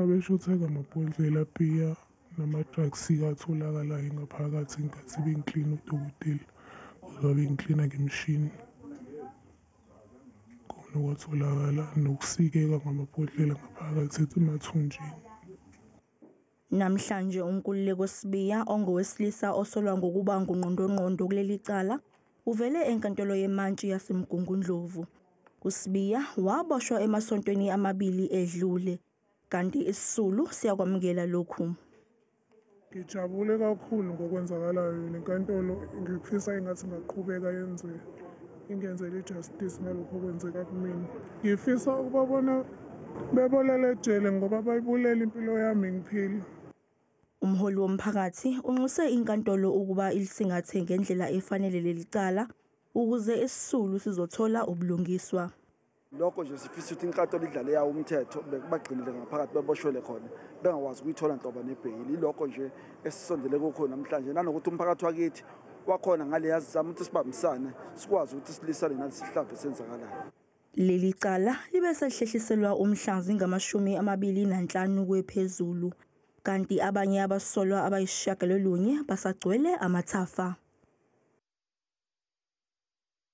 Abeshutheka amabhodlela abhiya namadrugsika atholakalayo ngaphakathi ngenkathi bengiklina udokotela kodwa bengiklina ngemishini khona kwatholakala nokusikeka ngamabhodlela ngaphakathi emathunjini Namhlanje uNkululeko Sibiya ongowesilisa osolwa ngokuba ngungqondongqondo kuleli cala Uvele enkantolo yemantshi yaseMgungundlovu. USibiya waboshwa emasontweni amabili edlule kanti isisulu siyakwamukela lokhu. Ngijabule kakhulu ngokwenzakalayo nenkantolo ngifisa ingathi ngaqhubeka yenze ingenzele ijustice ngalokho okwenzeka kumina. Ngifisa ukubabona bebolele ejele ngoba bayibulele impilo yami ngiphila. Umholi womphakathi unxuse inkantolo ukuba ilisingathe ngendlela efanele leli cala ukuze isisulu sizothola ubulungiswa. Lokho nje sifisa ukuthi inkantolo idlale yawo umthetho bekubagcinile ngaphakathi beboshwele khona bengakwazi ukuyithola nhlobo nebheyili. Ilokho nje esisondele kukho namhlanje nanokuthi umphakathi wakithi wakhona ngale yazizama ukuthi sibambisane sikwazi ukuthi silisane nalesi sihlava esenzakalayo. Leli cala libe selihlehliselwa umhla zingamashumi amabili nanhlanu kwephezulu kanti abanye abasolwa abayisishiyagalolunye basagcwele amathafa.